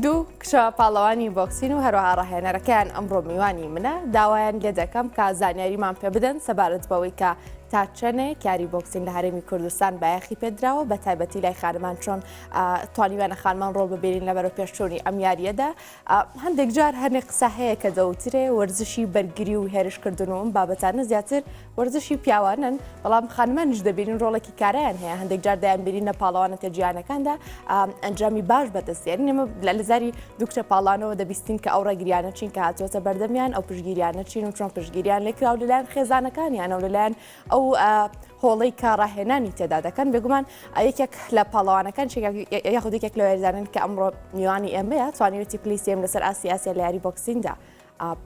دوو کچە پاڵەوانی بۆکسین و هەروەها ڕاهێنەرەکەیان ئەمڕۆ میوانی منە داوایان لێ دەکەم کە زانیاریمان پێ بدەن سەبارەت بەوەی کە تا چەنێ کاری بۆکسین لە هەرێمی کوردستان بایەخی پێدراوە بە تایبەتی لای خانمان چۆن توانیوانە خانمان ڕۆڵ ببیرین لە بەرە پێشچوونی ئەم یاریەدا هەندێک جار هەنێ قسە هەیە کە دەوترێ وەرزشی بەرگری و هێرش کردن و ئەم بابەتانە زیاتر وەرزشی پیاوانن بەڵام خانمانش دەبینین ڕۆڵێکی کارایان هەیە هەندێک جار دەیان بینین لە پاڵەوانە کە جیانەکاندا ئەنجامی باش بەدەستێن نێمە لە لەزاری دوکتە پاڵانەوە دەبیستین کە ئەو ڕێگریانە چین کە هاتوۆتە بەردەمیان ئەو پشگیریانە چین و چۆن پشگیریان لێکراو لەلایەن خێزانەکانیان و لەلایەن ئەو هۆڵەی کە ڕاهێنانی تێدا دەکەن بێگومان یەکێک لە پاڵەوانەکان یاخود یەکێک لە وێزانن کە ئەمڕۆ میوانی ئێمەیە توانیوێتی پلیسیم لەسەر ئاسی ئاسیا لە یاری بۆکسیندا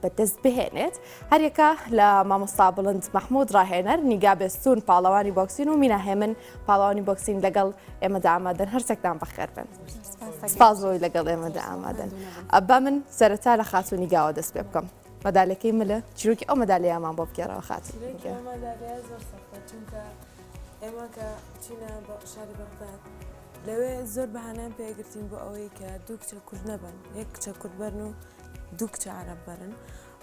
بەدەست بهێنێت هەرێکە لە مامۆستا بڵند مححمود ڕاهێنەر نیگا بێستون پاڵەوانی بۆکسین و میناهێمن پاڵەوانی بۆکسین لەگەڵ ئێمەدا ئامادەن هەرچەکدان بەخێر بن سپاس بۆی لەگەڵ ئێمەدا ئامادەن با من سەرەتا لە خاتونی گاوە دەست پێ بکەم. مەدالەکەی ملە چیرۆکی ئەو مەدالیامان بۆ بگێڕەوە خاتر ئێمە کە چینە بە شاری بەغداد لەوێ زۆر بەهانیان پێگرتین بۆ ئەوەی کە دوو کچە کورد نەبن یەک کچە کورد بەرن و دوو کچە عرب بەرن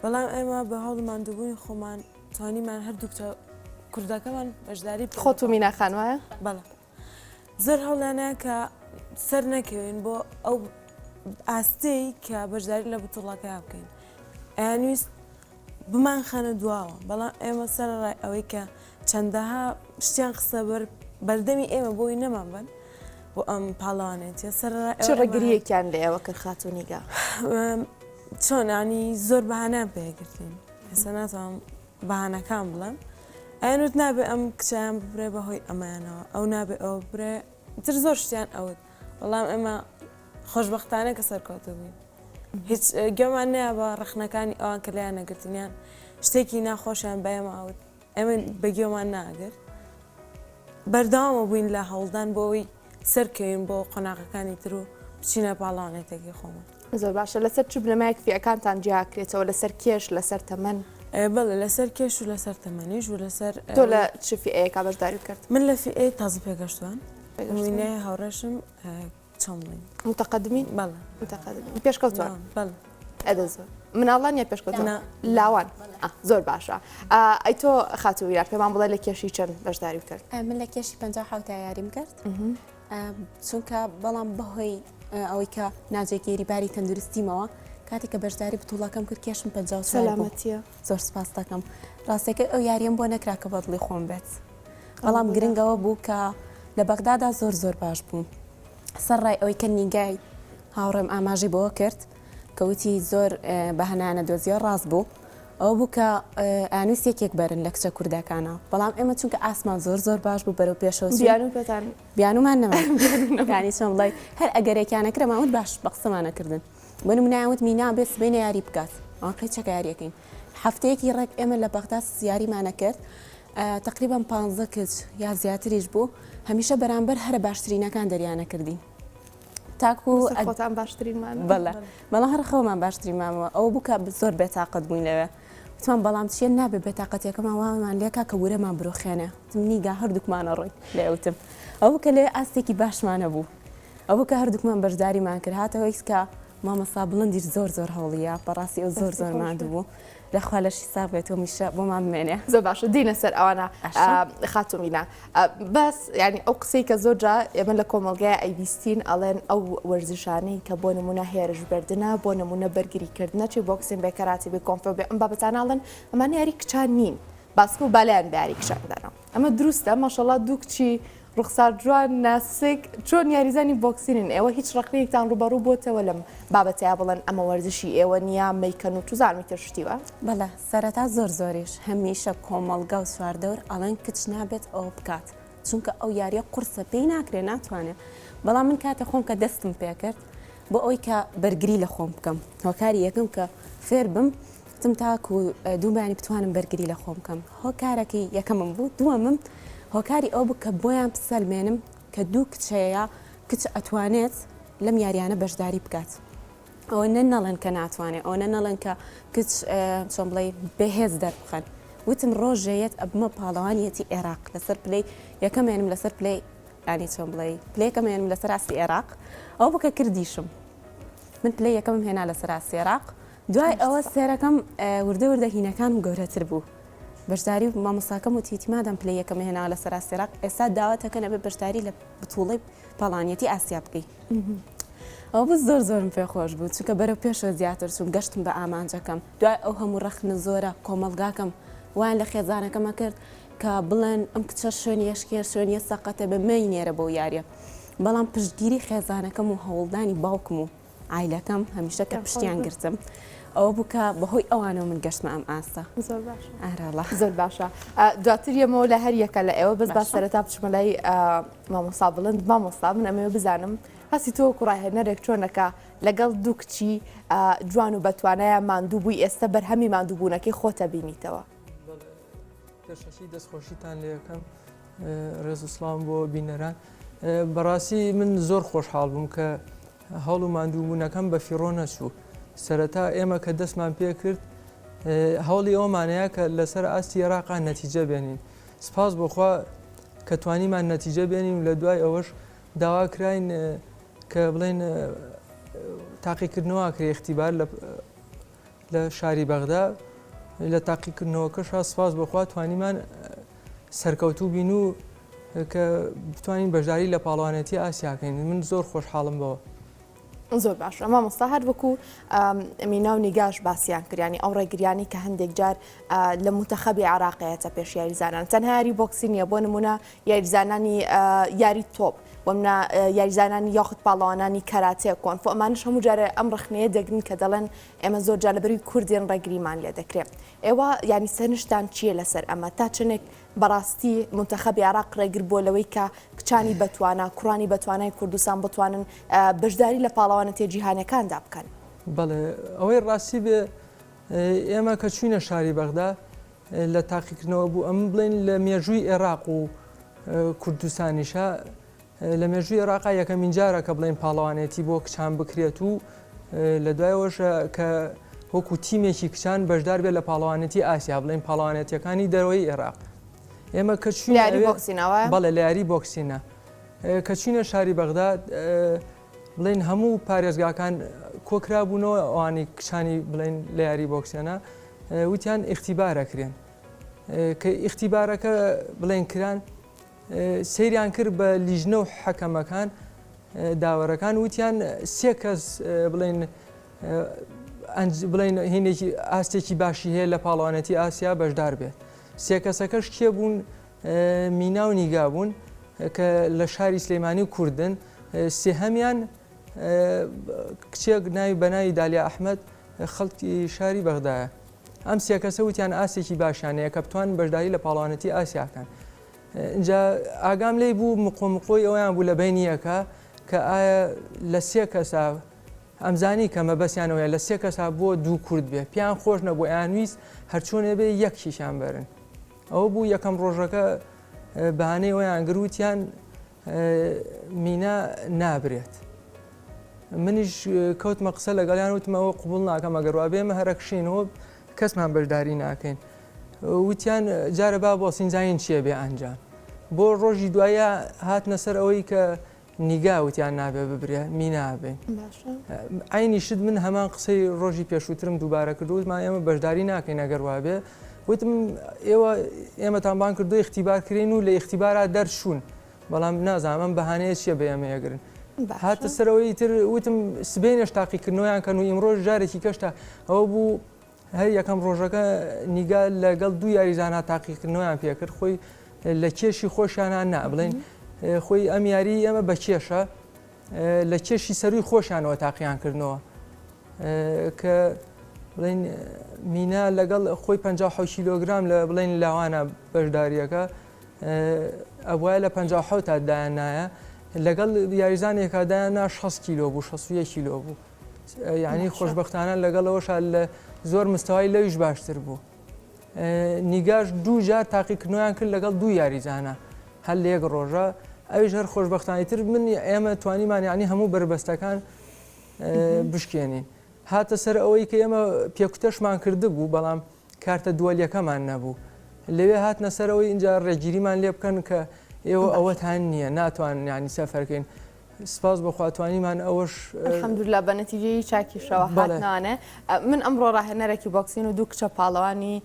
بەڵام ئێمە بە هەوڵ مادووبوونی خۆمان توانیمان هەردوو کچە کوردەکەمان بەشداری خۆت و میناخان وایە بەڵام زۆر هەڵانە کە سەر نەکەوێن بۆ ئەو ئاستەی کە بەشداری لە بتوڵەکە بکەین ئەیانویست بمان خانە دواوە بەڵام ئێمە سەر ڕای ئەوەی کە چەندەها شتیان قسە بەر بەردەمی ئێمە بۆی نەمان بن بۆ ئەم پاڵانێتە سەر ڕێگریەکیان لە ئێوە کرد خاتونیگا چۆنانی زۆر بەهانان پێگرتین ئێستا ناتوانم بەهانەکان بڵێم ئەیان وت نابێ ئەم کچیان ببرێ بەهۆی ئەمەیانەوە ئەو نابێ ئەوە ببرێ تر زۆر شتیان ئەوت بەڵام ئێمە خۆشببختانە کە سەرکەوتە بووین هیچ گەمان نەیە بە ڕخنەکانی ئەوان کە لایان نەگرتنیان شتێکی ناخۆشیان بەێمە ئەوت ئێمە بەگوێمان ناگرت بەرداوامە بووین لە هەوڵدان بۆ ئەوی سەرکەوین بۆ قۆناغەکانی تر و بچینە پاڵانێتێکی خۆمان زۆر باشە لەسەر چ بنەمایەک فیەکانتان جیاکرێتەوە لەسەر کێش لەسەر تەمەن؟ بەڵێ لەسەر کێش و لەسەر تەمەنیش و لەسەر تۆ لە چ فیەیەکە بەشداری کرد؟ من لە فیئەی تازە پێگەشتوان وینێ هاوڕێشم چۆمڵین متەقدمی بەڵێ متەقدمی پێشکەوتوان بەڵێ ئەدە زۆر مناڵان یا پێشکەوتان لاوان زۆر باشە ئەی تۆ خاتوو یار پێمان بڵێ لە کێشی چەند بەشداری کرد من لە کێشی پ یاریم کرد چونکە بەڵام بەهۆی ئەوەی کە ناجێگیری باری تەندروستیمەوە کاتێک کە بەشداری بتوڵەکەم کرد کێشم پە سەلامەتە زۆر سپاس دەکەم ڕاستەکە ئەو یاریەم بۆ نەکرا کە بەدڵی خۆم بێت بەڵام گرنگەوە بوو کە لە بەغدادا زۆر زۆر باش بووم سەر ڕای ئەوەی کە نیگای هاوڕێم ئاماژی بۆ کرد کە وتی زۆر بەهەنایانە دۆزیەوە ڕاست بوو ئەو بوو کە ئانوس یەکێک بەرن لە کچە کوردەکانە بەڵام ئێمە چونکە ئاسمان زۆر زۆر باش بوو بەرەو پێشەوە بیانومان نەمانی چۆم بڵی هەر ئەگەرێکیانە کرەماوت باش بە قسەمانەکردن بۆ منایوت مینا بێ سبێنە یاری بکات ئەو قەیچەکە یاریەکەین هەفتەیەکی ڕێک ئێمە لە بەغدا سیاریمانە کرد تقریبان پ کچ یا زیاتریش بوو هەمیشە بەرامبەر هەرە باشترینەکان دەریانە کردین تاکو خۆتان باشترینمان بەڵێ بەڵام هەر خەومان باشترین مامەوە ئەو بکە زۆر بێتاقەت بووین لەوێ وتمان بەڵام چیە نابێ بێتاقەتەکەمان وامان لێکا کە ورەمان برۆخێنێ تمنیگا هەردووکمانە ڕۆی لێوتم ئەو کە لێ ئاستێکی باشمانە بوو ئەو کە هەردووکمان بەشداریمان کرد هاتەوە ئیسکە مامەسا بڵندیش زۆر زۆر هەوڵیە بەڕاستی ئەو زۆر زۆر ماند بوو یاخوا لەشی ساغ بێت و میشە بۆمان بمێنێ. زۆر باشە دینە سەر ئەوانە خاتو مینا بەس ینی ئەو قسەی کە زۆر جا ئێمە لە کۆمەلگای ئەیبیستین ئەڵێن ئەو وەرزشانەی کە بۆ نمونە هێرش بردنە بۆ نمونە بەرگری کردنە چی بۆکسین بێ کەراتی بێ کۆمپۆ بێ ئەم بابەتانناڵن ئەمانە یاری کچان نین باسکە و بالایان باری کشان دەرەوە. ئەمە دروستە ماشەڵا دوو کچی ڕوخسار جوان ناسک چۆن یاریزانی بۆکسینن ئێوە هیچ ڕقیەکتان ڕوبەڕوو بۆتەوە لەم بابەتەیە بڵێن ئەمە وەرزشی ئێوە نییە مەیکەن و توزانمی تر شتیوە بەڵە سەرەتا زۆر زۆریش هەمیشە کۆمەڵگا و سواردەور ئەڵێن کچ نابێت ئەو بکات چونکە ئەو یاریە قورسە پێی ناکرێ ناتوانێت بەڵام من کاتە خۆم کە دەستم پێکرد بۆ ئەوەی کە بەرگری لە خۆم بکەم هۆکاری یەکەم کە فێر بم تم تاکو دوو بەیانی بتوانم بەرگری لە خۆم بکەم هۆکارەکەی یەکەمم بوو دووەمم هۆکاری ئەو بوو کە بۆیان بسەلمێنم کە دوو کچەیە کچ ئەتوانێت لەم یاریانە بەشداری بکات ئەوە نە نەڵێن کە ناتوانێت ئەوە نە نەڵێن کە کچ چۆن بڵێ بەهێز دەربخەن وتم ڕۆژێ یەت ئەبمە پاڵەوانیەتی عێراق لەسەر پلەی یەکەمێنم لەسەر پلەی یانی چۆن بڵێی پلەی یەکەم هێنم لەسەر ئاستی ئێراق ئەوە بکە کردیشم من پلەی یەکەمم هێنا لەسەر ئاستی ئێراق دوای ئەوە سێرەکەم وردە وردە هینەکانم گەورەتر بوو بەشداری و مامۆساکەم و تیتیمادەم پلەی یەکەم هێنا لەسەر ئاستی ئێراق ئێستا داواتەکە نەبێ بەشداری لە بتوڵی پاڵانیەتی ئاسیا بکەی ئەو بە زۆر زۆرم پێ خۆش بوو چونکە بەرە پێشە زیاتر چوون گەشتم بە ئامانجەکەم دوای ئەو هەموو ڕەخنە زۆرە کۆمەلگاکەم وان لە خێزانەکەمە کرد کە بڵێن ئەم کچە شوێن یەشکێر شوێنیە سەقەتە بە مەی نێرە بەو یاریە بەڵام پشتگیری خێزانەکەم و هەوڵدانی باوکم و عیلەکەم هەمیشە کە پشتیان گرتم ئەوە بووکە بەهۆی ئەوانەوە من گەشتمە ئەم ئاستە ئارەڵە زۆر باشە دواتر یەمەوە لە هەر یەکە لە ئێوە بەس با سەرەتا بچمە لای مامۆسا بڵند مامۆستا من ئەمەوە بزانم هەستی تۆ کوڕاهێنەرێک چۆنەکە لەگەڵ دوو کچی جوان و بەتوانایە ماندوو بووی ئێستا بەرهەمی ماندووبوونەکەی خۆتە بینیتەوە پێشەکی دەست خۆشیتان لێکەم ڕێز و سڵام بۆ بینەران بەڕاستی من زۆر خۆشحاڵ بووم کە هەڵ و ماندووبوونەکەم بە فیڕۆ نەچوو سەرەتا ئێمە کە دەستمان پێ کرد هەوڵی ئەومانەیە کە لەسەر ئاستی عێراقا نەتیجە بێنین سپاس بۆخوا کە توانیمان نەتیجە بێنین و لە دوای ئەوەش داوا کراین کە بڵێن تاقیکردنەوە کرێ اختیبار لە لە شاری بەغدا لە تاقیکردنەوەکەشا سپاس بەخوا توانیمان سەرکەوتوو بین و کە بتوانین بەشداری لە پاڵوانێتی ئاسیاکەین من زۆر خۆشحاڵم بەوە. زۆر باش ئەما مەستا هەر وەکو مینا و نیگاش باسییان کریانی ئەو ڕێگریانی کە هەندێک جار لە متەخەبی عراقەیەتە پێش یاریزانان تەنهاری بۆکسی نیە بۆ نمونە یاریزانانی یاری تۆپ ومنا یاریزانانی یاخود پاڵەوانانی کەراتێ کۆن فۆ ئەمانش هەموو جارە ئەم ڕخنەیە دەگرن کە دەڵێن ئێمە زۆر جار لەبەروی کوردین ڕێگریمان لێ دەکرێ ئێوە یانی سەرنشتان چییە لەسەر ئەمە تا چنێک بەڕاستی منتەخەبی عراق ڕێگر بووە لەوەی کە کچانی بەتوانە کوڕانی بەتوانای کوردستان بتوانن بەشداری لە پاڵەوانە تێجییهانەکاندا بکەن بەڵێ ئەوەی ڕاستی بێ ئێمە کە چوینە شاری بەغدا لە تاقیکردنەوە بوو ئەم بڵین لە مێژووی عێراق و کوردستانیشە لە مێژووی ئێراقا یەکەمین جارە کە بڵێین پاڵەوانێتی بۆ کچان بکرێت و لە دوایەوەش کە وەکو تیمێکی کچان بەشدار بێت لە پاڵەوانێتی ئاسیا بڵێن پاڵەوانێتیەکانی دەرەوەی ئێراق ئێمە کە بەڵێ لە یاری بۆکسینە کە چینە شاری بەغداد بڵین هەموو پارێزگاکان کۆکرا بوونەوە ئەوانی کچانی بڵین لە یاری بۆکسێنە وتیان ئختیبارەکرێن کە ئختیبارەکە بڵێن کران سەیریان کرد بە لیژنە و حەکەمەکان داوەرەکان وتیان سێ کەس بڵێن بڵین هینێکی ئاستێکی باشی هەیە لە پاڵوانەتی ئاسیا بەشدار بێ سێ کەسەکەش کێ بوون مینا و نیگا بوون کە لە شاری سلەیمانی و کوردن سێهەمیان کچێک ناوی بەناوی دالیا ئەحمد خەڵکی شاری بەغدایە ئەم سێکەسە وتیان ئاسێکی باشیانەیە کە بتوان بەشداری لە پاڵوانەتی ئاسیاکەن ئینجا ئاگام لێی بوو مقۆ مقۆی ئەویان بوو لە بەینیەکە کە ئایا لە سێ کەسا ئەمزانی کە مەبەستیانەوەیە لە سێ کەسا بۆ دوو کورد بێ پیان خۆش نەبوو یانویست هەرچۆنێ بێ یەک کیشان بەرن ئەوە بوو یەکەم ڕۆژەکە بەانەی ئەویان گروتیان مینا نابرێت منیش کەوتمە قسە لەگەڵیان وتمەوە قوبڵ ناکەم ئەگەر وا بێمە هەرەکشینەوە کەسمان بەشداری ناکەین وتیان جارە با بۆ سینجاین چیە بێ ئەنجام بۆ ڕۆژی دوایە هاتنە سەر ئەوەی کە نیگا وتیان نابێ ببرێ مینابێ ئاینی شت من هەمان قسەی ڕۆژی پێشووترم دووبارە کردوتمان ئێمە بەشداری ناکەین ئەگەر وابێ وتم ئێوە ئێمەتان بانگ کردووە ئیختیبار کرێن و لە ئیختیبارا دەرچوون، بەڵام نازانم ئەم بەهانەیە چییە بە ئێمە ئەگرن. هاتە سەرەوە ئیتر وتم سبەینێش تاقیکردنەوەیان کەن و ئیمڕۆش جارێکی کەش تا ئەوە بوو هەر یەکەم ڕۆژەکە نیگا لەگەڵ دوو یاریزانە تاقیکردنەوەیان پێ کرد خۆی لە کێشی خۆشیانە نا بڵێن خۆی ئەم یاری ئێمە بە کێشە لە کێشی سەرووی خۆشانەوە تاقییان کردنەوە کە بڵین مینا لەگەڵ خۆی 56 کیلۆگرام لە بڵین لاوانە بەشداریەکە ئەوە لە 56 تا دایان نایە لەگەڵ یاریزانێکا دایان نا 6 کیلۆ بوو 6 کیلۆ بوو یعنی خۆشببختانە لەگەڵەوەش لە زۆر مستەوای لەویش باشتر بوو نیگاش دوو جار تاقیکردنەوەیان کرد لەگەڵ دوو یاریزانە هەر لە یەک ڕۆژە ئەویش هەر خۆشبەختانە ئیتر من ئێمە توانیمان یانی هەموو بەربەستەکان بشکێنین هاتە سەر ئەوەی کە ئێمە پێکوتەشمان کردبوو بەڵام کارتە دووەلیەکەمان نەبوو لەوێ هاتنە سەرەوەی اینجا ڕێگیریمان لێ بکەن کە ئێوە ئەوەتان نییە ناتوان ینی سەفەرکەین سپاس بۆخوا توانیمان ئەوەش الحمدللە بە نەتیجەیی چاکیشەوە هاتنانێ من ئەمڕۆ ڕاهێنەرێکی بۆکسین و دوو کچە پاڵەوانی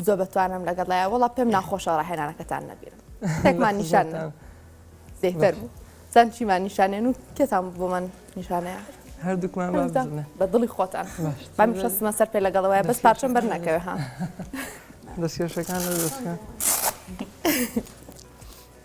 زۆ بەتوانم لەگەڵ لایە وڵا پێم ناخۆشە ڕاهێنانەکەتان نەبیرم تێکمان نیشان زیتر بوو چەند چیمان نیشانێن و کێتان بۆ من نیشانەیە هەردووکمان بە دڵی خۆتان بەم شەستمە سەر پێ لەگەڵەوەی بەس پارچەم بەر نەکەوێ ها دەستێشەکان دەستکە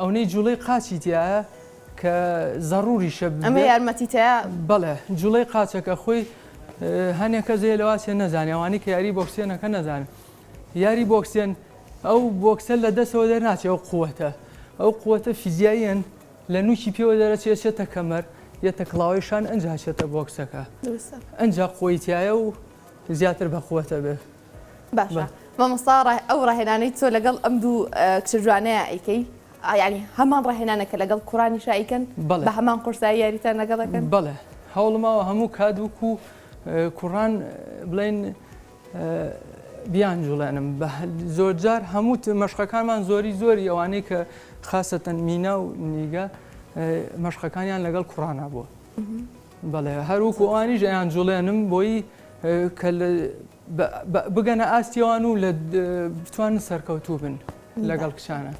ئەونەی جوڵەی قاچی تیایە کە زەڕوریشە ئەمە یارمەتیتەیە بەڵێ جوڵەی قاچەکە خۆی هەنێک کەس هەیە لەواسێ نەزانانی ئەوانی کە یاری بۆکسێنەکە نەزانن یاری بۆکسێن ئەو بۆکسە لە دەسەوە دەرناچێ ئەو قووەتە ئەو قووەتە فیزیاییەن لە نوکی پێوە دەرەچێت چێتە کەمەر یەتە کڵاوەیشان ئەنج هەچێتە بۆکسەکە ئەنج قویتایە و زیاتر بە قووەتە بێت باشە مامۆستا ئەو ڕاهێنانەی تۆ لەگەڵ ئەم دوو کچە جوانەیە ئەیکەی ئاینی هەمان ڕاهێنانە کە لەگەڵ کوڕانی شایکەن بە هەمان قورسایی یاریتان لەگەڵەکەن بڵێ هەوڵماوە هەموو کات وکو کوڕان بڵێن بیان جوڵێنم بە زۆرجار هەموو مەشقەکانمان زۆری زۆری ئەوانەی کە خاستەن مینا و نیگە مەشقەکانیان لەگەڵ کوڕانە بووە. بەڵێ هەر وەکو ئەوانیش ئەیانجوڵێنم بۆی کە بگەنە ئاستیەوان و لە بتوانن سەرکەوتوو بن لەگەڵ کچانە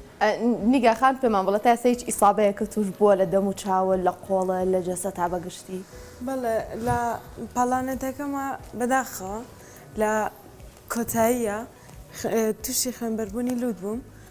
نیگاخان پێمان بڵە تا سەیج ئیسابەیە کە توش بووە لە دەم و چاوە لە قۆڵە لە جەسە تا بەگشتی بەڵێ لە پاڵانەتەکەمە بەداخەوە لە کۆتاییە تووشی خوێنبەربوونی لووت بووم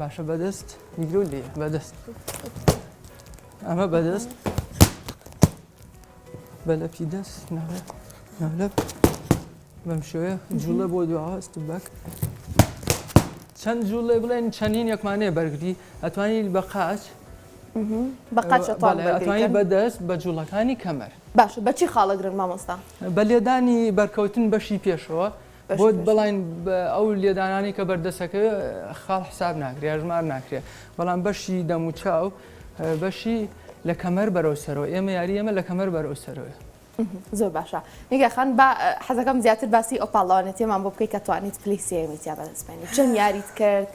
باشە بەدەست بیرۆ لێ بەدەست ئەمە بەدەست بەلەپی دەست ناڵێ ناڵە بەم شێوەیە جوڵە بۆ دواواست بەک چەند جوڵێ بڵێن چەندین یەکمانێ بەرگری ئەتوانین بە قاچ بەقاچەتوانی بەدەست بە جوڵەکانی کەمەر باش بەچی خاڵەگرن مامۆستا بە لێدانی بەرکەوتن بەشی پێشەوە بۆت بڵین ئەو لێدانانەی کە بەردەسەکە خاڵ حساب ناکرێ یاژمار ناکرێ بەڵام بەشی دەموچاو بەشی لە کەمەر بەرەو سەرەوە ئێمە یاری ئێمە لە کەمەر بەرەو سەرەوە زۆر باشە نیگەخان بە حەزەکەم زیاتر باسی ئەو پاڵاوانێتێمان بۆ بکەیت کە توانیت پلیسیەمی تیا بەدەستێنی چەند یاریت کرد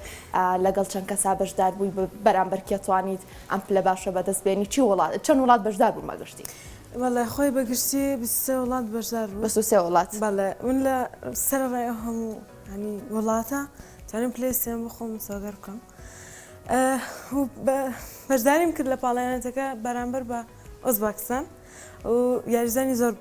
لەگەڵ چەند کەسا بەشدار بووی بەرامبەرکیە توانیت ئەم پلە باشە بەدەست بێنی چی وڵات چەند وڵات بەشدار بوو مەگەشتی بەڵێ خۆی بە گشتی بیست و سێ وڵات بەشدار بوو. بیست و سێ وڵات. بەڵێ من لە سەرەڕای ئەو هەموو یانی وڵاتە توانیم پلەی سێم بۆ خۆم مسۆگەر بکەم. بەشداریم کرد لە پاڵەیانەتەکە بەرامبەر بە ئۆزباکستان و یاریزانی زۆر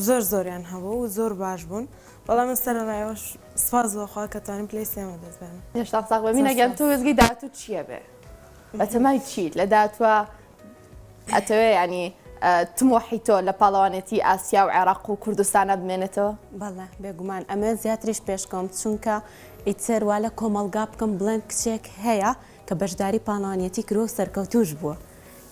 زۆر زۆریان هەبوو و زۆر باش بوون. بەڵام من سەرەڕایەوەش سپاس بۆ خوا کە توانیم پلەی سێمە دەست بێنم. هێشتا ساغ بە مینەگەن تۆ وێزگەی داهاتووت چییە بێ؟ بەتەمای چیت لە داهاتووە؟ ئەتەوێ ینی تمۆحی تۆ لە پاڵەوانێتی ئاسیا و عێراق و کوردستانە بمێنێتەوە بەڵێ بێگومان ئەمە زیاتریش پێشکەم چونکە ئیتر وا لە کۆمەلگا بکەم بڵێن کچێک هەیە کە بەشداری پاڵانیەتی کرۆ سەرکەوتوش بووە.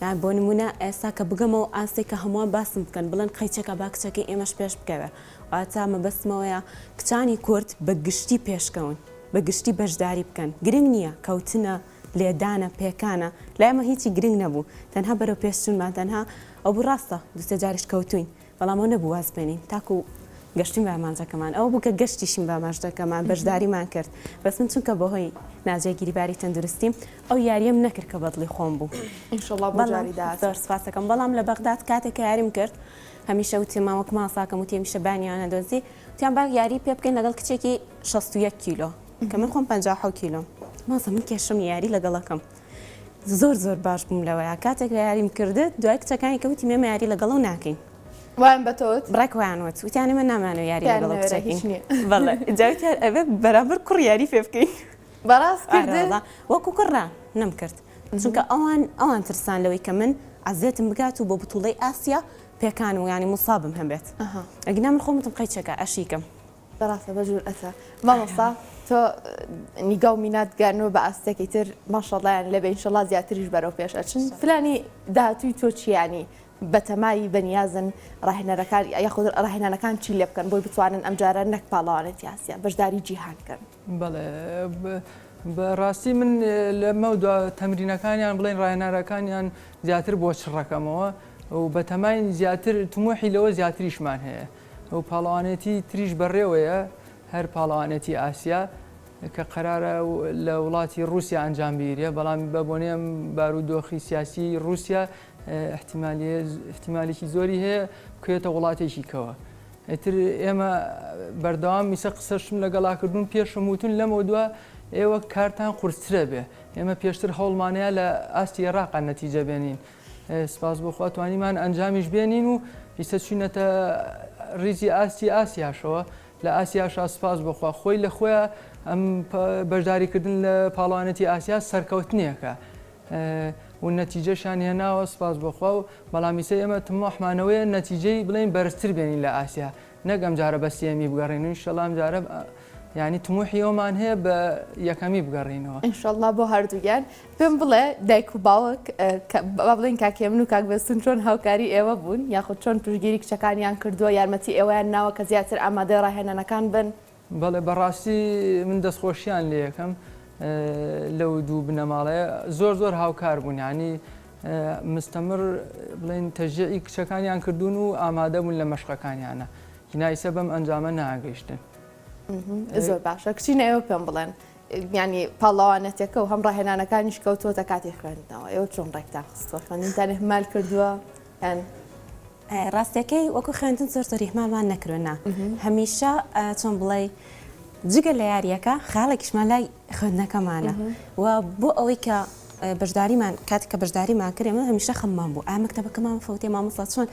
یان بۆ نمونە ئێستا کە بگەمەوە ئاستێک کە هەمووان باسم بکەن بڵێن قەیچەکە با کچەکە ئێمەش پێش بکەوێ واتا مەبەستمەوەیە کچانی کورد بە گشتی پێشکەون بە گشتی بەشداری بکەن گرنگ نییە کەوتنە لێدانە، پێکانە، لای ئێمە هیچی گرنگ نەبوو، تەنها بەرەو پێش چوونمان، تەنها ئەوە بوو، ڕاستە دوو سێ جاریش کەوتووین، بەڵام ئەوە نەبوو واز بێنین، تاکو گەشتین بە ئامانجەکەمان، ئەوە بوو کە گەشتیشین بە ئاماژدەکەمان، بەشداریمان کرد، بەس من چونکە بەهۆی ناجێگیری باری تەندروستیم ئەو یاریەم نەکرد کە بەدڵی خۆم بوو، ئینشەڵا بۆ جاری داهاتوو، بەڵام زۆر سوپاسەکەم، بەڵام لە بەغداد کاتێک کە یاریم کرد، هەمیشە وتیمان وەک ماساکەم وتی هەمیشە بانیان ئەدۆزی، وتیان با یاری پێ بکەین لەگەڵ کچێکی شەست و یەک کیلۆ، کە من خۆم پەنجا و حەوت کیلۆم مامۆستا من کێشم یاری لەگەڵەکەم زۆر زۆر باش بووم لەوەیە کاتێک لە یاریم کردت دوای کچەکانی کەوتی مێمە یاری لەگەڵەو ناکەین وایان بەتەوت بڕێک وایان وت وتیانە من نامانەوە یاری لەگەڵ کچەکەین بەڵێ جاوتیان ئەبێ بەرامبەر کوڕ یاری پێ بکەین بەڕاست کرد وەکو کوڕە نەم کرد چونکە ئەوان ئەوان ترسان لەوەی کە من عزێتم بگات و بۆ بتوڵەی ئاسیا پێکان و ینی مصابم هەبێت ئەگنا من خۆمتم قەیچەکە ئەشیکەم بەراستە بە جورئەتە مامۆستا تۆ نیگا و مینات گەیاندوە بە ئاستێکی تر ماشەڵڵایان لێ بێ ئینشەڵڵا زیاتریش بەرەو پێش ئەچن پلانی داهاتووی تۆ چییە یانی بەتەمای بەنیازن ڕاهێنەرەکان یاخود ڕاهێنانەکان چی لێ بکەن بۆی بتوانن ئەمجارە نەک پاڵەوانێتی ئاسیا بەشداری جیهان بکەن بەڵێ بەڕاستی من لەمەو دوا تەمرینەکانیان بڵێن ڕاهێناراکانیان زیاتر بۆ چڕەکەمەوە و بەتەماین زیاتر تموحی لەوە زیاتریشمان هەیە ئەو پاڵەوانێتی تریش بەڕێوەیە هەر پاڵەوانێتی ئاسیا کە قەرارە لە وڵاتی رووسیا ئەنجام بگیرێ بەڵام بە بۆنێم بارودۆخی سیاسی رووسیا احتیمالی احتیمالێکی زۆری هەیە بکرێتە وڵاتێکی کەوە ئیتر ئێمە بەردەوام میسە قسەشم لەگەڵاکردوون پێشم وتون لەمەو دوا ئێوە کارتان قورسترە بێ ئێمە پێشتر هەوڵمانەیە لە ئاستی ئێراقا نەتیجە بێنین سپاس بۆخوا توانیمان ئەنجامیش بێنین و ئیسە چوینەتە ریزی ئاستی ئاسیاشەوە لە ئاسیاشا سپاس بۆخوا خۆی لە خۆیان ئەم بەشداریکردن لە پاڵەوانێتی ئاسیا سەرکەوتنێکە و نەتیجەشیان هێناوە سوپاس بۆ خوا و بەڵام ئیسە ئێمە تموحمانەوەیە نەتیجەی بڵێین بەرزتر بێنین لە ئاسیا نەک ئەمجارە بە سێیەمی بگەڕێین و ئینشەڵا ئەمجارە یانی تموحی ئەومان هەیە بە یەکەمی بگەڕێینەوە. ئینشەڵا بۆ هەردووگیان. پێم بڵێ دایک و باوک با بڵێین کاک هێمن و کاک بێستوون چۆن هاوکاری ئێوە بوون یاخود چۆن پشتگیری کچەکانیان کردووە یارمەتی ئێوەیان ناوە کە زیاتر ئامادەی ڕاهێنانەکان بن؟ بەڵێ بەڕاستی من دەستخۆشیان لێکەم لەو دوو بنەماڵەیە زۆر زۆر هاوکار بوون ینی مستەمر بڵین تەژیعی کچەکانیان کردوون و ئامادەبوون لە مەشقەکانیانە هینایسە بەم ئەنجامە ناگەیشتن زۆر باشە کچی نەوە پێم بڵێن ینی پاڵاوانەتەکە و هەم ڕاهێنانەکانیش کەوتوەتە کاتی خوێندنەوە ئێوە چۆن ڕێکتان خستوە خوێندنتان هەمال کردووە کەن. ڕاستەکەی وەکو خوێندن زۆر زۆر ئیهمالمان نەکرد نا هەمیشە چۆن بڵێی جگە لە یاریەکە خاڵێکیشمان لای خوێندنەکەمانە و بۆ ئەوەی کە بەشداریمان کات کە بەشداریمان کرێ من هەمیشە خەممان بوو ئا مەکتتەبەکەمان فوتێ مامۆستا چۆن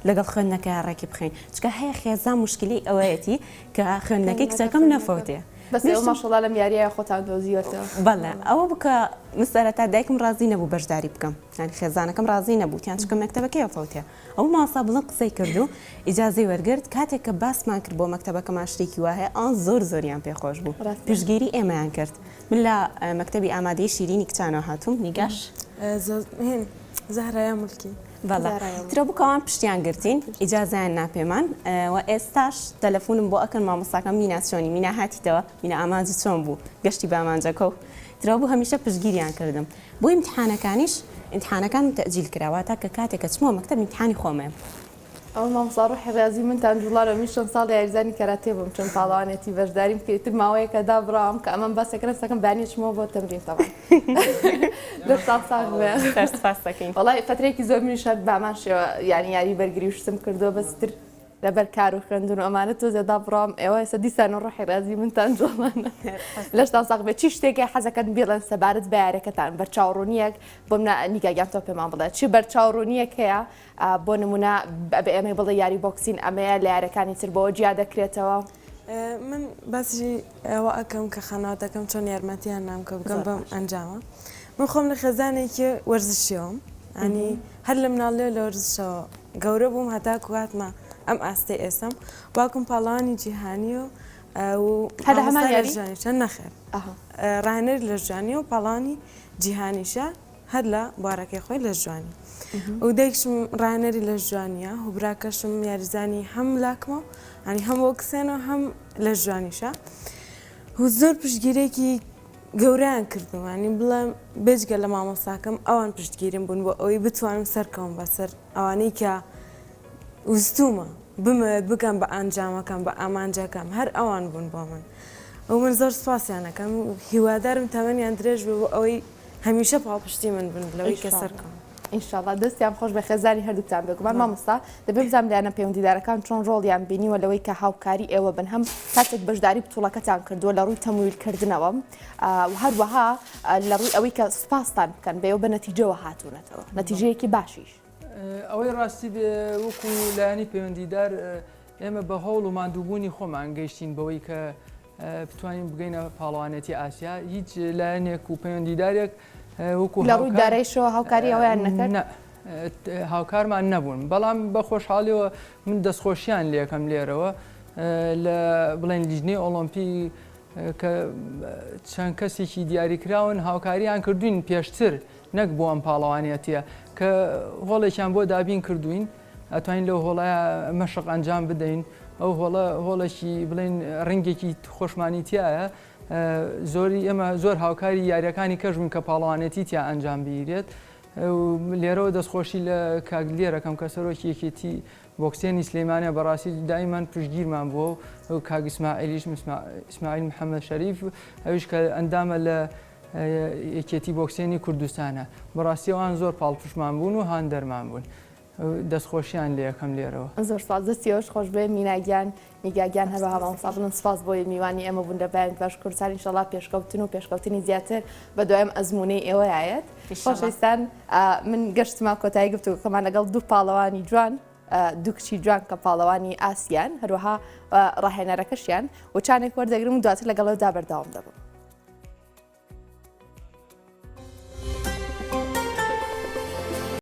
لەگەڵ خوێندنەکە ڕێکی بخین چکە هەیە خێزان مشکلی ئەوەیەتی کە خوێندنەکەی کچەکەم نەفوتێ بەسمەشڵا لەم یاریە خۆتان دۆزیوەتەوە بەڵێ ئەوە بکە مسەرەتا دایکم ڕازی نەبوو بەشداری بکەم یانی خێزانەکەم ڕازی نەبوو تیان چکە مەکتەبەکەیە فەوتێ ئەو مامۆستا بڵند قسەی کرد و ئیجازەی وەرگرت کاتێک کە باسمان کرد بۆ مەکتەبەکەمان شتێکی وا هەیە ئەوان زۆر زۆریان پێ خۆش بوو پشتگیری ئێمەیان کرد من لە مەکتەبی ئامادەیی شیرینی کچانەوە هاتووم نیگاش زەهرایا ملکی بەڵا ترە بکەوان پشتیان گرتین ئیجازیان ناپێمان و ئێستاش تەلەفونم بۆ ئەکەن مامۆستاکە مینا چۆنی مینا هاتیتەوە مینا ئامانجی چۆن بوو گەشتی بامانجەکە و ترەوە بوو هەمیشە پشگیریان کردم بۆ ئیمتیحانەکانیش ئیمتیحانەکانم تەئجیل کرا واتا کە کاتێک ئەچمەوە مەکتەب ئیمتیحانی خۆمم. ئەوە مامۆستا ڕۆحی ڕیازی منتان جوڵارە من شەست ساڵ یاریزانی کەراتێ بووم چەند پاڵەوانێتی بەشداریم کرد ئیتر ماوەیەکە دابڕاوم کە ئەمەم بەسە کە نەستەکەم دانیە چمەوە بۆ تەمرین تەوام دەستان ساغ بێ سەرسوپاستەکەین وەڵای فەترەیەکی زۆر منیش هەر بامان شێوە یانی یاری بەرگری و شتم کردووە بەس ئیتر لەبەر کار و خوێندن و ئەمانە تۆزێ دابڕام ئێوە ئێستا دیسان و ڕۆحی ڕازی منتان جوڵانە لەشتان ساغ بێت چی شتێکی حەزەکەن بیڵێن سەبارەت بە یارەکەتان بەرچاوڕوونیەک بۆم نیگاگیان تۆ پێمان بڵێت چی بەرچاوڕوونیەک هەیە بۆ نمونە بە ئێمەی بڵێ یاری بۆکسین ئەمەیە لە یارەکانی تر بەوە جیا دەکرێتەوە من باسی ئەوە ئەکەم کە خانەوادەکەم چۆن یارمەتیان نام کە بگەم بەم ئەنجامە من خۆم لە خێزانێکی وەرزشیەوەم ئەنی هەر لە مناڵێ لە وەرزشەوە گەورە بووم هەتا کواتمە ئەم ئاستی ئێسم باکم پاڵانی جیهانی و هەدا هەمان یاری چەند نەخێر ڕانەر لە ژانی و پاڵانی جیهانیشە هەر لە بارەکەی خۆی لەش جوانی و دایکشم ڕانەری لەش جوانیە و براکەشم یاریزانی هەم لاکمە و هەنی هەم وەکسێن و هەم لەش جوانیشە و زۆر پشتگیرێکی گەوریان کردوانی بڵێم بێجگە لە مامۆساکەم ئەوان پشتگیرم بوون بۆ ئەوەی بتوانم سەرکەوم بەسەر ئەوانەی کە وستومە بمەوێت بگەم بە ئەنجامەکەم بە ئامانجەکەم هەر ئەوان بوون بۆ من ئەو من زۆر سپاسیانەکەم و هیوادارم تەمەنیان درێژ بێ بۆ ئەوەی هەمیشە پاڵپشتی من بن لەوەی کە سەرکەون. ئینشاڵا دەستیان خۆش بێ خێزانی هەردووکتان بێگومان مامۆستا دەبێ بزانم لایەنە پەیوەندیدارەکان چۆن ڕۆڵیان بینیوە لەوەی کە هاوکاری ئێوە بن هەم کاتێک بەشداری بتوڵەکەتان کردووە لە ڕووی تەمویلکردنەوە و هەروەها لە ڕووی ئەوەی کە سوپاستان بکەن بێەوە بە نەتیجەوە هاتوونەتەوە نەتیجەیەکی باشیش ئەوەی ڕاستی بێ وەکو لایانی پەیوەندیدار ئێمە بە هەوڵ و مادووبوونی خۆمان گەیشتین بەوەی کە بتوانین بگەینە پاڵەوانێتی ئاسیا هیچ لایەنێک و پەیوەندیدارێک وەکو لە ڕووی دارایشەوە هاوکاری ئەویان نەکرد هاوکارمان نەبوون بەڵام بە خۆشحاڵیەوە من دەستخۆشیان لەکەم لێرەوە لە بڵێن لیژنەی ئۆلۆمپی کە چەند کەسێکی دیاریکراون هاوکاریان کردوین پێشتر نەک بۆ ئەم پاڵەوانەتە کە هۆڵێکیان بۆ دابین کردوین ئەتوانین لەو هۆڵە مەشق ئەنجام بدەین ئەو هۆڵە هۆڵێکی بڵین ڕنگێکی خۆشمانی تایە زۆری ئێمە زۆر هاوکاری یاریەکانی کەش بوون کە پاڵەوانێتی تیا ئەنجام بگیرێت لێرەوە دەستخۆشی لە کاک لێرەکەم کە سەرۆکی یەکێتی بۆکسێنی سلەیمانە بەڕاستی دایمان پشگیرمان بووە و کاگسمائلیش ئیسماعیل محەممەد شەریف ئەوش کە ئەندامە لە یەکێتی بۆکسێنی کوردستانە بەڕاستیەوان زۆر پاڵپشمان بوون و هاندەرمان بوون دەستخۆشیان لێ ئەکەم لێرەوە. زۆر سوپاس دەستی ئێوەش خۆش بێ مینا گیان نیگا گیان هەروەها مامۆستا بڵند سوپاس بۆی میوانی ئێمە بوون لە بەیانیت باشوور کوردستان ئینشەڵا پێشکەوتن و پێشکەوتنی زیاتر بە دوایم ئەزموونەی ئێوەیا یەت خۆشەویستان من گەشتمە کۆتایی گفتوگۆکەمان لەگەڵ دوو پاڵەوانی جوان دوو کچی جوان کە پاڵەوانی ئاسیان هەروەها ڕاهێنەرەکەشیان و چانێک وەردەگرم و دواتر لەگەڵەوەدا بەردەوام دەبم